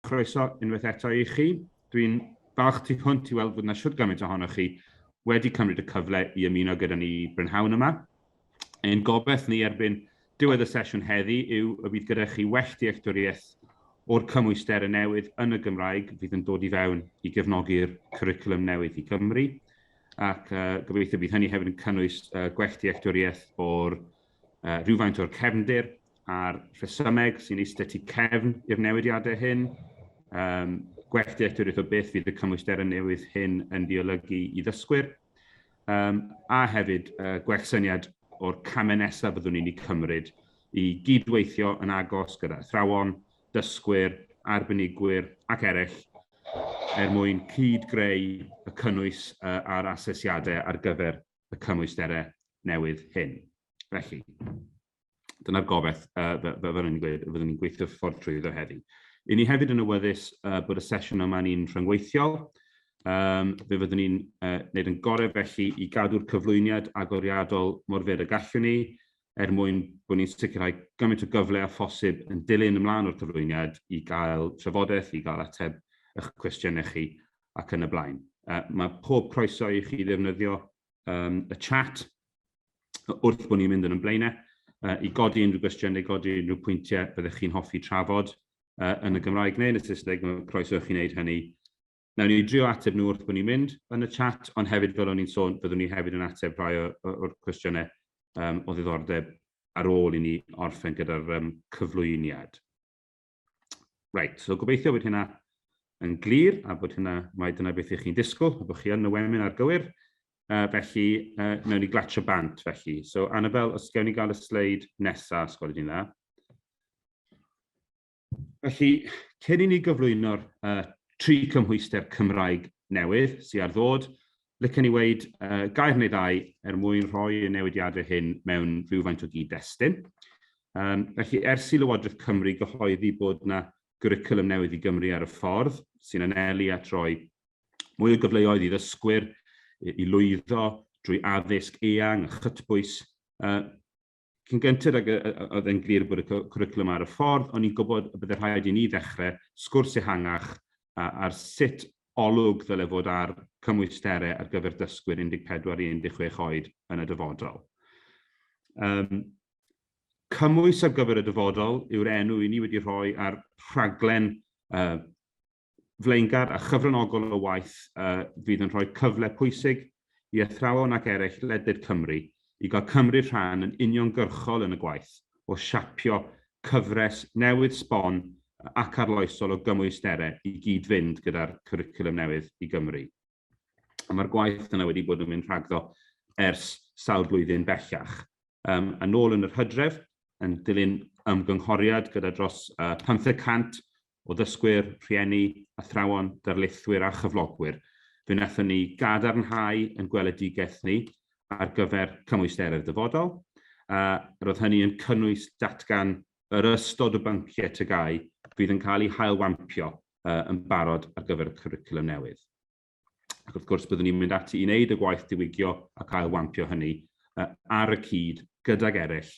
Croeso unwaith eto i chi. Dwi'n falch tu hwnt i weld bod yna siwr gymaint ohonoch chi wedi cymryd y cyfle i ymuno gyda ni brynhawn yma. Ein gobaith ni erbyn diwedd y sesiwn heddi yw y bydd gyda chi well dealltwriaeth o'r cymwyster y newydd yn y Gymraeg fydd yn dod i fewn i gefnogi'r cwricwlwm newydd i Gymru. ac gobeithio bydd hynny hefyd yn cynnwys gwell dealltwriaeth o'r rhywfaint o'r cefndir a'r rhesymeg sy'n eistedd tu cefn i'r newidiadau hyn, um, gwell dealltwriaeth o beth fydd y cymwysterau newydd hyn yn diolygu i ddysgwyr, um, a hefyd uh, gwell syniad o'r camau nesaf byddwn ni'n ei cymryd i gydweithio yn agos gyda athrawon, dysgwyr, arbenigwyr ac eraill er mwyn cyd-greu y cynnwys a'r asesiadau ar gyfer y cymwysterau newydd hyn. Felly, dyna'r gobaith fel o'n i'n gweud, fyddwn ni'n gweithio ffordd trwyddo heddi. I ni hefyd yn awyddus bod y sesiwn yma ni'n rhyngweithiol, Um, fe fyddwn ni'n uh, wneud yn gorau felly i gadw'r cyflwyniad agoriadol mor fer y gallwn ni, er mwyn bod ni'n sicrhau gymaint o gyfle â phosib yn dilyn ymlaen o'r cyflwyniad i gael trafodaeth, i gael ateb eich cwestiynau chi ac yn y blaen. Uh, mae pob croeso i chi ddefnyddio um, y chat wrth bod ni'n mynd yn ymlaenau uh, i godi unrhyw gwestiynau, godi unrhyw pwyntiau byddwch chi'n hoffi trafod uh, yn y Gymraeg neu yn y Saesneg, mae croeso i chi wneud hynny Nawn ni drio ateb nhw wrth bod ni'n mynd yn y chat, ond hefyd fel o'n i'n sôn, byddwn ni hefyd yn ateb rhai o'r cwestiynau o ddiddordeb ar ôl i ni orffen gyda'r cyflwyniad. Reit, so gobeithio bod hynna yn glir a bod hynna, mae dyna beth ych chi'n disgwyl, a bod chi yn y wemin ar gywir. Uh, felly, uh, nawn ni glatio bant felly. So, Annabel, os gawn ni gael y sleid nesaf, os gwelwch chi'n dda. Felly, cyn i ni gyflwyno'r uh, tri cymhwyster Cymraeg newydd sydd ar ddod, lycan ni weid uh, gair neu ddau er mwyn rhoi y newidiadau hyn mewn rhywfaint o gyd-destun. Um, felly, ers i Lywodraeth Cymru gyhoeddi bod yna gwricwlwm newydd i Gymru ar y ffordd, sy'n anelu at roi mwy o gyfleoedd i ddysgwyr i lwyddo drwy addysg eang a chytbwys, uh, Cyn gynted ag oedd e'n glir bod y cwricwlwm ar y ffordd, o'n i'n gwybod y byddai rhaid i ni ddechrau sgwrs ehangach ar sut olwg ddylai fod ar cymwysterau ar gyfer dysgwyr 14 i 16 oed yn y dyfodol. Um, cymwys ar gyfer y dyfodol yw'r enw i ni wedi rhoi ar rhaglen uh, flaengar a chyfranogol o waith a fydd yn rhoi cyfle pwysig i athrawon ac eraill ledled Cymru i gael cymryd rhan yn uniongyrchol yn y gwaith o siapio cyfres newydd sbon ac arloesol o gymwysterau i gyd-fynd gyda'r Cwricwlwm Newydd i Gymru. A mae'r gwaith yna wedi bod yn mynd rhagddo ers sawl blwyddyn bellach. Um, yn ôl yn yr hydref, yn dilyn ymgynghoriad gyda dros uh, 500 o ddysgwyr, rhieni, athrawon, darlithwyr a chyflogwyr, fe wnaethon ni gadarnhau yn gweledigaeth ni ar gyfer cymwysterau'r dyfodol. Uh, roedd hynny yn cynnwys datgan yr ystod o bynciau tygau fydd yn cael eu hailwampio uh, yn barod ar gyfer y cwricwlwm newydd. Ac wrth gwrs, byddwn ni'n mynd ati i wneud y gwaith diwygio ac ailwampio hynny uh, ar y cyd gydag eraill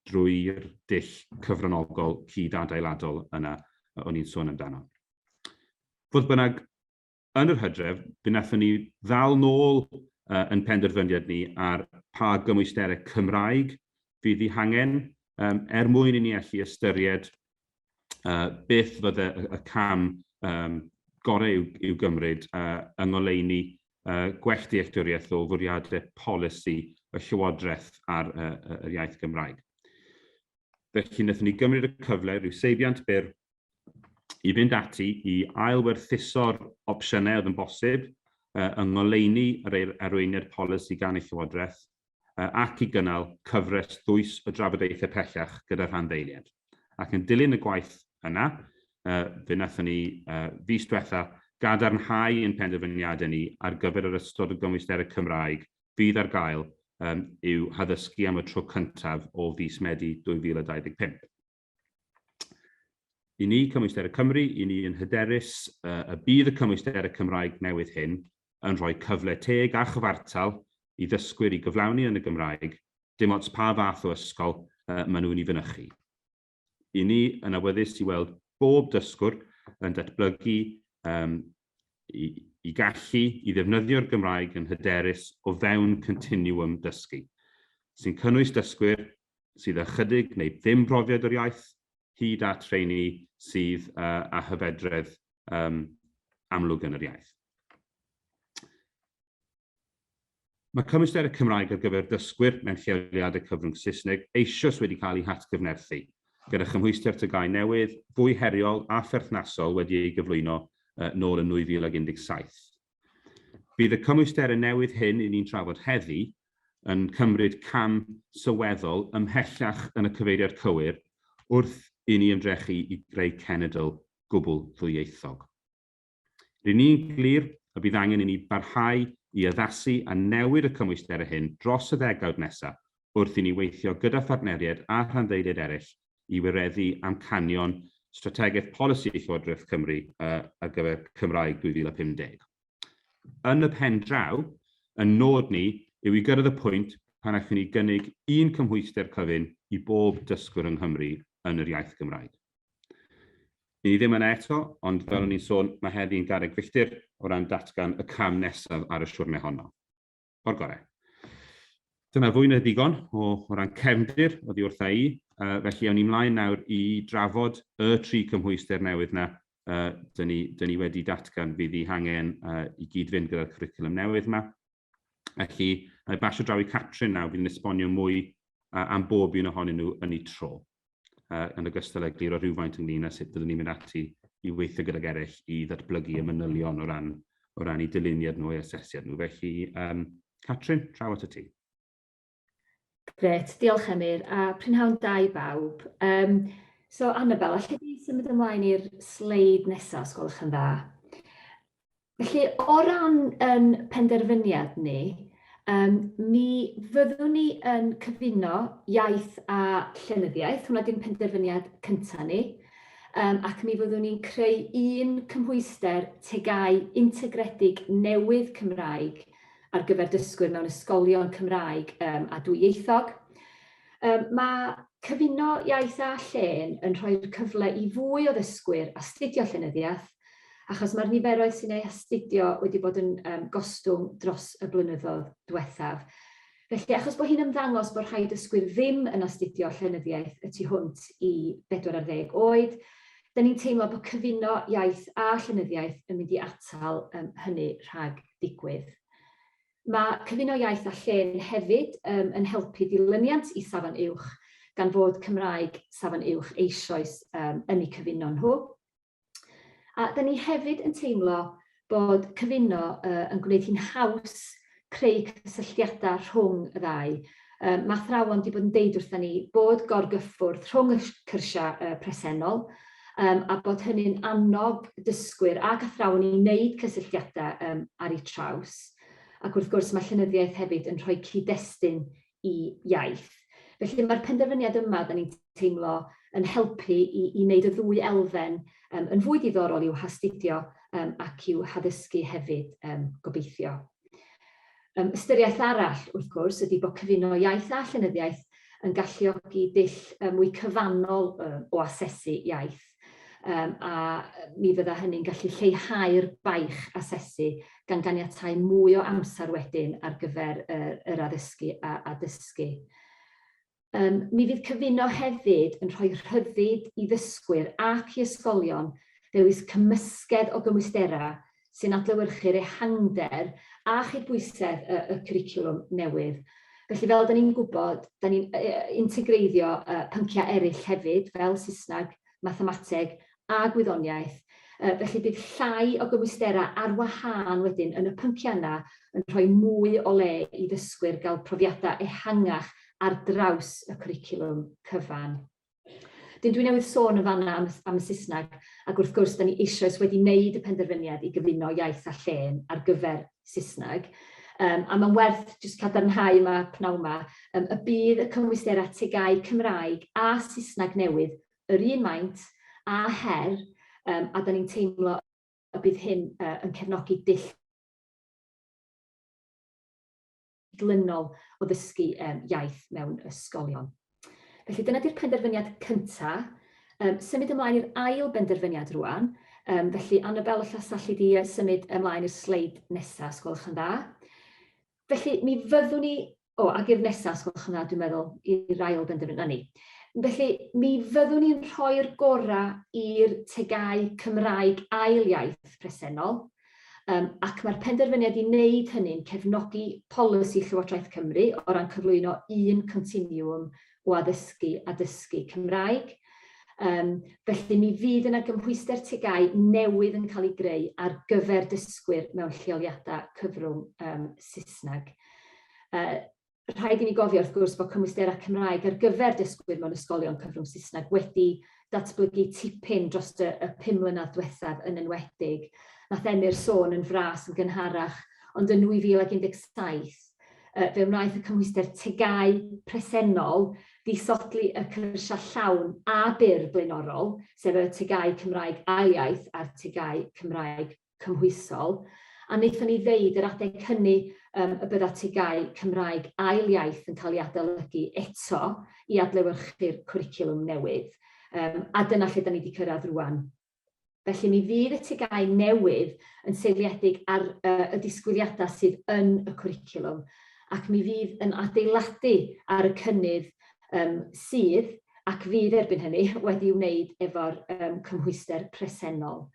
drwy'r dull cyfranogol cyd adeiladol yna o'n i'n sôn amdano. Fodd bynnag, yn yr hydref, fe wnaethon ni ddal nôl uh, yn penderfyniad ni ar pa gymwysterau Cymraeg fydd i hangen um, er mwyn i ni allu ystyried beth fydde y cam gorau i'w, i'w gymryd uh, yng ngoleuni uh, gwell dealltwriaeth o fwriadau polisi y Llywodraeth ar uh, yr iaith Gymraeg. Felly, wnaethon ni gymryd y cyfle, rhyw seibiant byr, i fynd ati i ailwerthuso'r opsiynau oedd yn bosib uh, yng ngoleuni yr arweiniad polisi gan y Llywodraeth ac i gynnal cyfres ddwys o drafodaethau pellach gyda rhanddeiliaid. Ac yn dilyn y gwaith yna, fe wnaethon ni fis diwetha gadarnhau ein penderfyniadau ni ar gyfer yr ystod o gymwysterau Cymraeg fydd ar gael i'w haddysgu am y tro cyntaf o fis Medi 2025. I ni, Cymwysterau Cymru, i ni yn hyderus y bydd y cymwysterau Cymraeg newydd hyn yn rhoi cyfle teg a chyfartal i ddysgwyr i gyflawni yn y Gymraeg, dim ots pa fath o ysgol maen nhw'n ei fynychu. I ni yn awyddus i weld bob dysgwr yn datblygu um, i, i gallu i ddefnyddio'r Gymraeg yn hyderus o fewn continuum dysgu, sy'n cynnwys dysgwyr sydd â chydig neu ddim profiad o'r iaith, hyd at rheini sydd â hyfedredd um, amlwg yn yr iaith. Mae cymwysder y Cymraeg ar gyfer dysgwyr mewn lleoliadau cyfrwng Saesneg eisoes wedi cael ei hatgyfnerthu, gyda chymhwyster tygau newydd, fwy heriol a pherthnasol wedi ei gyflwyno uh, nôl yn 2017. Bydd y cymwysterau newydd hyn i ni'n trafod heddi yn cymryd cam sylweddol ymhellach yn y cyfeiriad cywir wrth i ni ymdrechu i greu cenedl gwbl ddwyieithog. Ry'n ni'n glir y bydd angen i ni barhau i addasu a newid y cymwysterau hyn dros y ddegawd nesaf wrth i ni weithio gyda phartneriaid a rhanddeiliaid eraill i wireddu amcanion Strategaeth Polisi Llywodraeth Cymru ar gyfer Cymraeg 2050. Yn y pen draw, ein nod ni yw i gyrraedd y pwynt pan allwn ni gynnig un cymhwyster cyfun i bob dysgwr yng Nghymru yn yr iaith Gymraeg. Ni ddim yna eto, ond fel o'n i'n sôn, mae heddi yn garreg filltir o ran datgan y cam nesaf ar y siwrne honno. o'r gorau. Dyna fwy na ddigon o, o ran cefndir oddi wrtha i, uh, felly awn ni mlaen nawr i drafod y tri cymhwyster newydd na uh, dyn, ni, dyn ni wedi datgan fydd i hangen uh, i gyd-fynd gyda'r curriculum newydd yma. Felly, na i basio draw i Catrin nawr fydd yn esbonio mwy uh, am bob un ohonyn nhw yn ei tro. uh, yn ogystal â gliro rhywfaint ynglyn â sut byddwn ni'n mynd ati i weithio gydag eraill i ddatblygu y manylion o ran, o ran i dyluniad nhw, i asesiad nhw. Felly, um, Catrin, traw at y ti. Gret, diolch Emyr, a prynhawn da i bawb. Um, so, Annabel, allai di symud ymlaen i'r sleid nesaf, os gwelwch yn dda. Felly, o ran yn penderfyniad ni, um, mi fyddwn ni yn cyfuno iaith a llenyddiaeth, hwnna dim penderfyniad cyntaf ni, um, ac mi fyddwn ni'n creu un cymhwyster tegau integredig newydd Cymraeg ar gyfer dysgwyr mewn ysgolion Cymraeg um, a dwyieithog. Um, mae cyfuno iaith a llen yn rhoi'r cyfle i fwy o ddysgwyr astudio llenyddiaeth Achos mae'r niferoedd sy'n ei astudio wedi bod yn um, gostwng dros y blynyddoedd diwethaf. Felly, achos bod hi'n ymddangos bod rhai dysgwyr ddim yn astudio llenyddiaeth y tu hwnt i 40 oed, da ni'n teimlo bod cyfuno iaith a llenyddiaeth yn mynd i atal um, hynny rhag digwydd. Mae cyfuno iaith a llen hefyd um, yn helpu dilyniant i safon uwch gan fod Cymraeg safon uwch eisoes um, yn eu cyfuno nhw. A da ni hefyd yn teimlo bod cyfuno uh, yn gwneud hi'n haws creu cysylltiadau rhwng y ddau. Uh, mae athrawon wedi bod yn deud wrthyn ni bod gorgyffwrdd rhwng y cyrsiau uh, presennol um, a bod hynny'n annog dysgwyr ac athrawon i wneud cysylltiadau um, ar eu traws. Ac wrth gwrs mae llenyddiaeth hefyd yn rhoi cyd-destun i iaith. Felly mae'r penderfyniad yma, da ni'n teimlo, yn helpu i, i wneud y ddwy elfen um, yn fwy diddorol i'w hastudio um, ac i'w haddysgu hefyd, um, gobeithio. Um, ystyriaeth arall, wrth gwrs, ydy bod cyfuno iaith a llenyddiaeth yn galluogi dull mwy cyfannol um, o asesu iaith. Yym a yy mi fydda hynny'n gallu lleihau'r baich asesu gan ganiatáu mwy o amser wedyn ar gyfer y yr addysgu a a dysgu. Yym mi fydd cyfuno hefyd yn rhoi rhyddid i ddysgwyr ac i ysgolion ddewis cymysgedd o gymwysterau sy'n adlewyrchu'r ehangder a chydbwysedd y y cwricwlwm newydd. Felly fel 'dan ni'n gwybod, 'dan ni'n yy yy integreiddio yy pyncia' eryll hefyd, fel Saesneg, Mathemateg a Gwyddoniaeth. Yy felly bydd llai o gymwysterau ar wahân wedyn yn y pyncia' yna yn rhoi mwy o le i ddysgwyr gael profiadau ehangach ar draws y cwricwlwm cyfan. Dyn, dwi newydd sôn yn fanna am, am y Saesneg, ac wrth gwrs, da ni eisoes wedi wneud y penderfyniad i gyfuno iaith a llên ar gyfer Saesneg. Um, a mae'n werth jyst cadarnhau yma pnawn yma um, y bydd y cymwysterau tegau Cymraeg a Saesneg newydd yr un maint a her um, a da ni'n teimlo y bydd hyn uh, yn cefnogi dull cydlynol o ddysgu yym iaith mewn ysgolion. Felly dyna di'r penderfyniad cynta. Yym symud ymlaen i'r ail benderfyniad rwan. Yym felly Annabel os all alli di symud ymlaen i'r sleid nesa os gwelwch yn dda. Felly mi fyddwn ni o ag i'r nesa os gwelwch yn dda dwi'n meddwl i'r ail benderfyniad 'na ni. Felly mi fyddwn ni'n rhoi'r gorau i'r tegau Cymraeg ail iaith presennol Um, ac mae'r penderfyniad i wneud hynny'n cefnogi polisi Llywodraeth Cymru o ran cyflwyno un continiwm o addysgu a dysgu Cymraeg. Um, felly mi fydd yna gymhwyster tegau newydd yn cael ei greu ar gyfer dysgwyr mewn lleoliadau cyfrwng um, Saesneg. Uh, Rhaid i ni gofio wrth gwrs bod cymwysterau Cymraeg ar gyfer dysgwyr mewn ysgolion cyfrwng Saesneg wedi datblygu tipyn dros y y pum mlynedd diwethaf yn enwedig. Nath Emyr sôn yn fras yn gynharach, ond yn 2017 yy fe wnaeth y cymhwyster TGAU presennol ddisodli y cyrsiau llawn a byr blaenorol, sef y TGAU Cymraeg Ail Iaith a'r TGAU Cymraeg cymhwysol, a wnaethon ni ddeud yr adeg hynny yym y bydda TGAU Cymraeg ail iaith yn cael ei adolygu eto i adlewyrchu'r cwricwlwm newydd. Yym a dyna lle 'dan ni 'di cyrraedd rŵan. Felly mi fydd y TGAU newydd yn seiliedig ar yy y disgwyliadau sydd yn y cwricwlwm ac mi fydd yn adeiladu ar y cynnydd yym sydd ac fydd erbyn hynny wedi'i wneud efo'r yym cymhwyster presennol.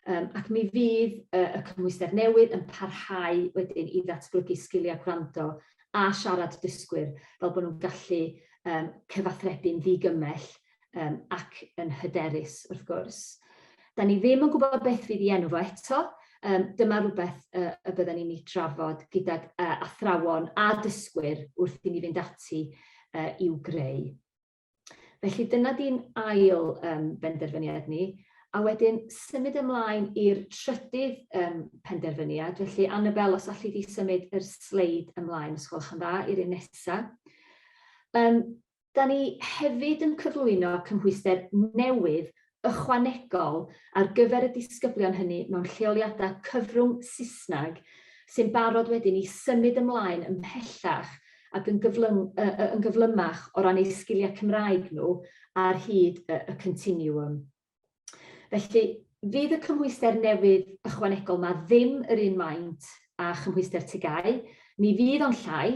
Yym ac mi fydd y y cymhwyster newydd yn parhau wedyn i ddatblygu sgilia gwrando a siarad dysgwyr fel bo' nw'n gallu yym cyfathrebu'n ddigymell yym ac yn hyderus wrth gwrs. 'Dan ni ddim yn gwbod beth fydd 'i enw fo eto yym dyma rwbeth yy y bydden ni'n 'i drafod gydag yy athrawon a dysgwyr wrth i ni fynd ati yy i'w greu. Felly dyna di'n ail yym benderfyniad ni. A wedyn symud ymlaen i'r trydydd yym penderfyniad. Felly Annabelle os alli di symud yr sleid ymlaen os gwelwch yn dda i'r un nesa. Yym da ni hefyd yn cyflwyno cymhwyster newydd ychwanegol ar gyfer y disgyblion hynny mewn lleoliadau cyfrwng Saesneg sy'n barod wedyn i symud ymlaen ymhellach ac yn gyflyng- yy yy yn gyflymach o ran eu sgiliau Cymraeg nhw ar hyd y y continiwwm. Felly, fydd y cymhwyster newydd ychwanegol 'ma ddim yr un maint a chymhwyster TGAU, ni fydd ond llai,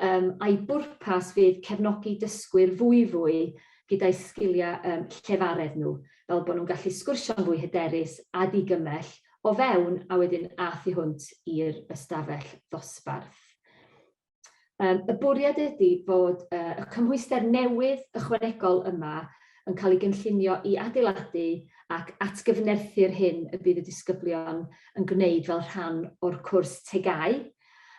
um, a'i bwrpas fydd cefnogi dysgwyr fwy fwy gyda'u sgiliau um, llefaredd nhw, fel bod nhw'n gallu sgwrsio'n fwy hyderus a digymell o fewn a wedyn a thu hwnt i'r ystafell ddosbarth. Yym y bwriad ydy bod yy y cymhwyster newydd ychwanegol yma yn cael ei gynllunio i adeiladu ac atgyfnerthu'r hyn y bydd y disgyblion yn gwneud fel rhan o'r cwrs tegau.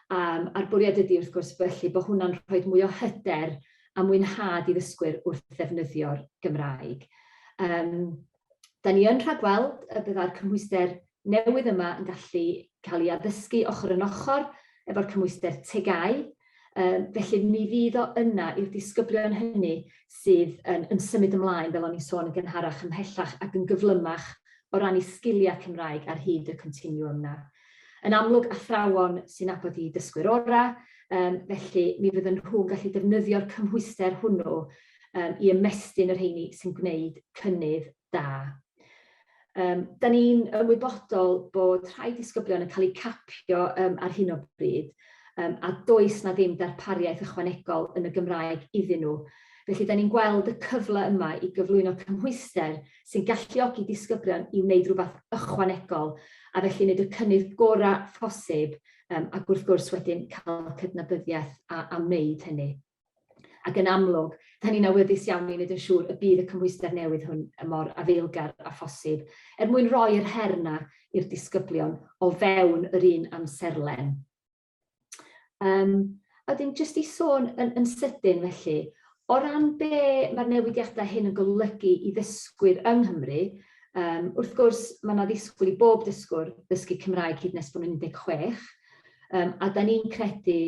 Um, a'r bwriad ydy wrth gwrs felly bod hwnna'n rhoi mwy o hyder a mwynhad i ddysgwyr wrth ddefnyddio'r Gymraeg. Um, 'Da ni yn rhagweld y byddai'r cymhwyster newydd yma yn gallu cael ei addysgu ochr yn ochr efo'r cymhwyster TGAU, yy felly mi fydd o yna i'r disgyblion hynny sydd yn yn symud ymlaen, fel o'n i'n sôn yn gynharach, ymhellach ac yn gyflymach o ran 'u sgiliau Cymraeg ar hyd y continwwm 'na. Yn amlwg, athrawon sy'n nabod 'u dysgwyr orau, yym felly mi fyddan nhw'n gallu defnyddio'r cymhwyster hwnnw um, i ymestyn y rheini sy'n gwneud cynnydd da. Um, da ni'n ymwybodol bod rhai disgyblion yn cael eu capio um, ar hyn o bryd um, a does na ddim darpariaeth ychwanegol yn y Gymraeg iddyn nhw. Felly, da ni'n gweld y cyfle yma i gyflwyno cymhwyster sy'n galluogi disgyblion i wneud rhywbeth ychwanegol a felly wneud y cynnydd gorau phosib um, ac wrth gwrs wedyn cael cydnabyddiaeth a, a wneud hynny. Ac yn amlwg, da ni'n awyddus iawn i wneud yn siŵr y bydd y cymhwyster newydd hwn yn mor afeilgar â phosib, er mwyn roi yr her 'na i'r disgyblion o fewn yr un amserlen. Um, a wedyn jyst i sôn yn, yn sydyn felly, o ran be mae'r newidiadau hyn yn golygu i ddysgwyr yng Nghymru, um, wrth gwrs mae yna ddisgwyl i bob dysgwr ddysgu Cymraeg hyd nes bod nhw'n 16, um, a da ni'n credu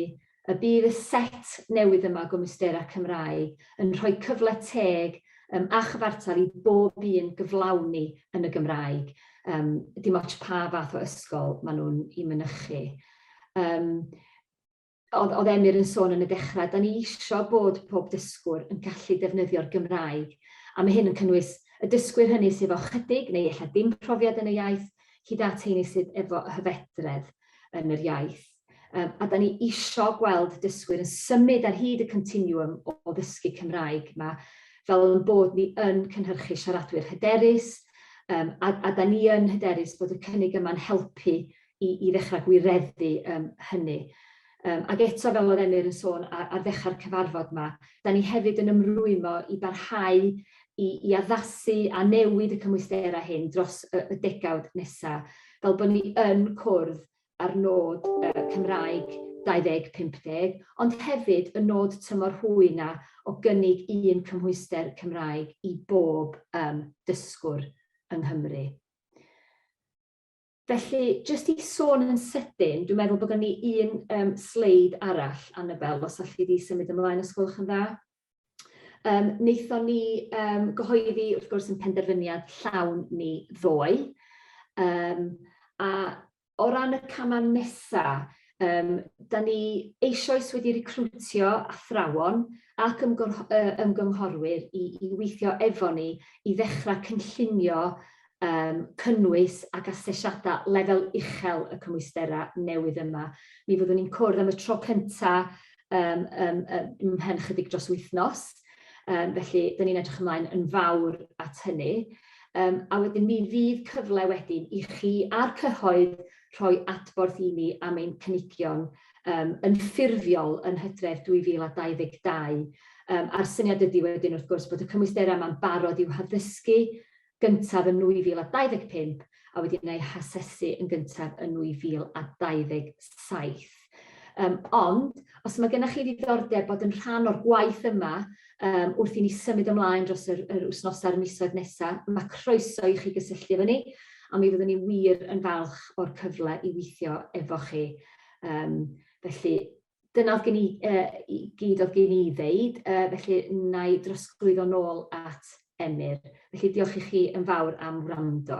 y bydd y set newydd yma o gymwysterau Cymraeg yn rhoi cyfle teg yym a chyfartal i bob un gyflawni yn y Gymraeg, yym dim ots pa fath o ysgol maen nhw'n i mynychu. Yym oedd oedd Emyr yn sôn yn y dechrau, da ni isio bod pob dysgwr yn gallu defnyddio'r Gymraeg, a mae hyn yn cynnwys y dysgwyr hynny sydd efo chydig neu ella dim profiad yn y iaith, hyd at heini sydd efo hyfedredd yn yr iaith. Yym a 'dan ni isio gweld dysgwyr yn symud ar hyd y continwwm o o ddysgu Cymraeg 'ma fel 'yn bod ni yn cynhyrchu siaradwyr hyderus yym a a 'dan ni yn hyderus bod y cynnig yma'n helpu i i ddechra gwireddu yym hynny. Yym ag eto fel o'dd Emyr yn sôn a- ar ddechrau'r cyfarfod 'ma 'dan ni hefyd yn ymrwymo i barhau i i addasu a newid y cymwysterau hyn dros y y degawd nesa fel bo' ni yn cwrdd a'r nod yy Cymraeg 2050, ond hefyd y nod tymor hwy 'na o gynnig un cymhwyster Cymraeg i bob yym dysgwr yng Nghymru. Felly, jyst i sôn yn sydyn, dwi'n meddwl bod gen i un yym sleid arall, Anabel, os alli di symud ymlaen os gwelwch yn dda. Yym naethon ni yym gyhoeddi wrth gwrs 'yn penderfyniad llawn ni ddoe yym a o ran y cama' nesa yym 'dan ni eisioes wedi recriwtio athrawon ac ymgorch- yy ymgynghorwyr i i weithio efo ni i ddechra cynllunio yym cynnwys ac asesiada lefel uchel y cymwystera newydd yma. Mi fyddwn ni'n cwrdd am y tro cynta yym yym yy ymhen chydig dros wythnos. Yym felly 'dyn ni'n edrych ymlaen yn fawr at hynny. Yym a wedyn mi fydd cyfle wedyn i chi a'r cyhoedd rhoi adborth i ni am ein cynigion yym yn ffurfiol yn Hydref 2022. Yym a'r syniad ydi wedyn wrth gwrs bod y cymwystera 'ma'n barod i'w haddysgu gyntaf yn 2025 a wedyn ei hasesu yn gyntaf yn 2027. Um, ond, os mae gennych chi ddiddordeb bod yn rhan o'r gwaith yma, um, wrth i ni symud ymlaen dros yr, yr wythnos a'r misoedd nesaf, mae croeso i chi gysylltu efo ni, a mi fyddwn ni wir yn falch o'r cyfle i weithio efo chi. Um, felly, dyna o'dd gen i yy i gyd o'dd gen i i ddeud yy felly wnâi drosglwyddo nôl at Emyr. Felly diolch i chi yn fawr am wrando.